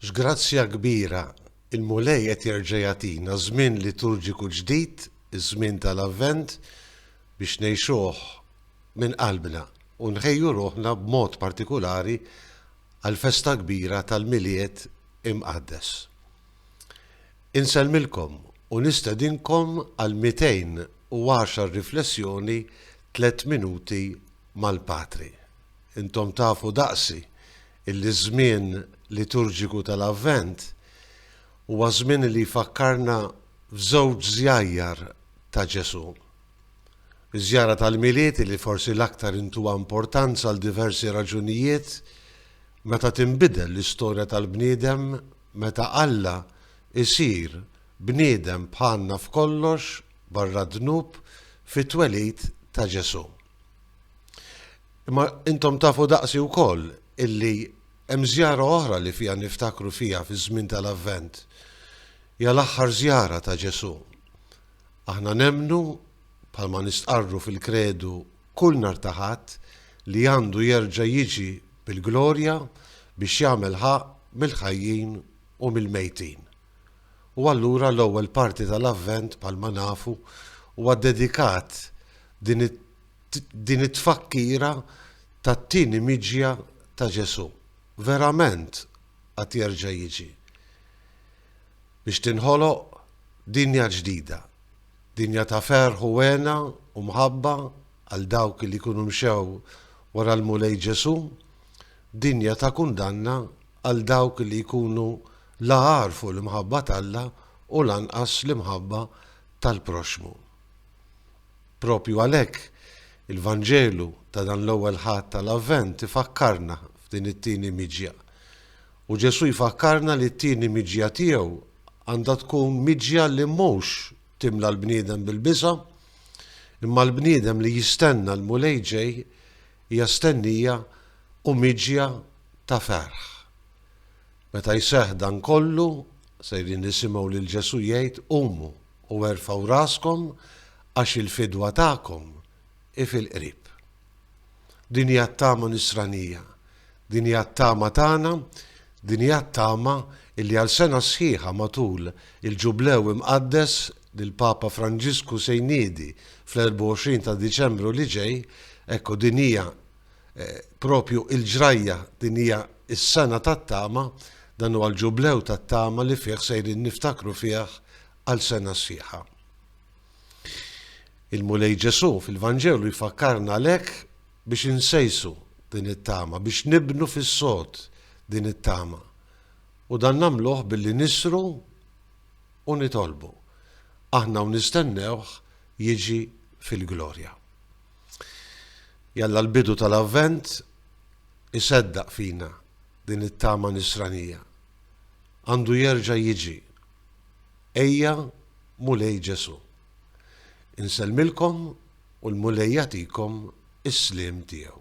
X'grazzja kbira! Il-Mulej qed jerġa' jagħtina żmien liturġiku ġdid, iż-żmien tal-Avvent, biex ngħixuh minn qalbna u nħejju ruħna b'mod partikulari għall-festa kbira tal-Milied Imqaddes. Insellmilkom u nistedinkom għal 210 riflessjoni tliet minuti mal-Patri. Intom tafu daqsi illi ż-żmien liturġiku tal-Avvent huwa żmien li jfakkarna f'żewġ żjajjar ta' Ġesù. Iż-żjara tal-Milied illi forsi l-aktar intuha importanza għal diversi raġunijiet, meta tinbidel l-istorja tal-bniedem, meta Alla jsir bniedem bħalna f'kollox barra d-dnub fit-twelid ta' Ġesù. Imma intom tafu daqsi wkoll illi hemm żjara oħra li fiha niftakru fiha fiż-żmien tal-Avvent. Ja l-aħħar żjara ta' Ġesù. Aħna nemnu bħalma nistqarru fil-kredu kull nhar ta' Ħadd li għandu jerġa' jiġi bil-glorja biex jagħmel ħaqq mill-ħajjin u mill-mejtin. U allura l-ewwel parti tal-Avvent, bħalma nafu, huwa dedikat din din it-tfakkira tat-tieni miġja ta' Ġesù. Verament qed jerġa' jiġi. Biex tinħoloq dinja ġdida. Dinja ta' ferħ u hena u mħabba għal dawk li jkunu mxew wara l-Mulej Ġesù, dinja ta' kundanna għal dawk li jkunu La għarfu l-imħabba t'Alla u lanqas l-imħabba tal-proxxmu. Proprju għalhekk, il-Vanġelu ta' dan l-Ewwel Ħadd tal-Avvent ifakkarna f'din it-tieni miġja. U Ġesù jfakkarna li t-tieni miġja tiegħu għandha tkun miġja li mhux timla l-bniedem bil-biża', imma l-bniedem li jistenna l-Mulej ġej hija stennija u miġja ta' ferħ. Meta jseħħ dan kollu, sejrin nisimgħu lil Ġesù jgħid, Qumu u erfgħu raskom, għax il-fidwa tagħkom hi fil-qrib. Din hija t-tama Nisranija, din hija t-tama tagħna, din hija t-tama illi għal sena sħiħa matul il-Ġublew imqaddes li l-Papa Franġisku se jniedi fl-24 ta' Diċembru li ġej, ekku din hija Propju l-ġrajja, din hija s-sena tat-tama, dan huwa l-Ġublew tat-tama li fih sejrin niftakru fih għal sena sħiħa. Il-Mulej Ġesù fil-Vanġelu jfakkarna għalhekk biex insejsu din it-tama, biex nibnu fis-sod din it-tama. U dan nagħmluh billi nisru u nitolbu. Aħna u nistennewh jiġi fil-glorja. Jalla l-bidu tal-Avvent iseddaq fina din it-tama Nisranija. Għandu jerġa' jiġi. Ejja Mulej Ġesù. Insellmilkom u l-Mulej jagħtikom is-sliem tiegħu.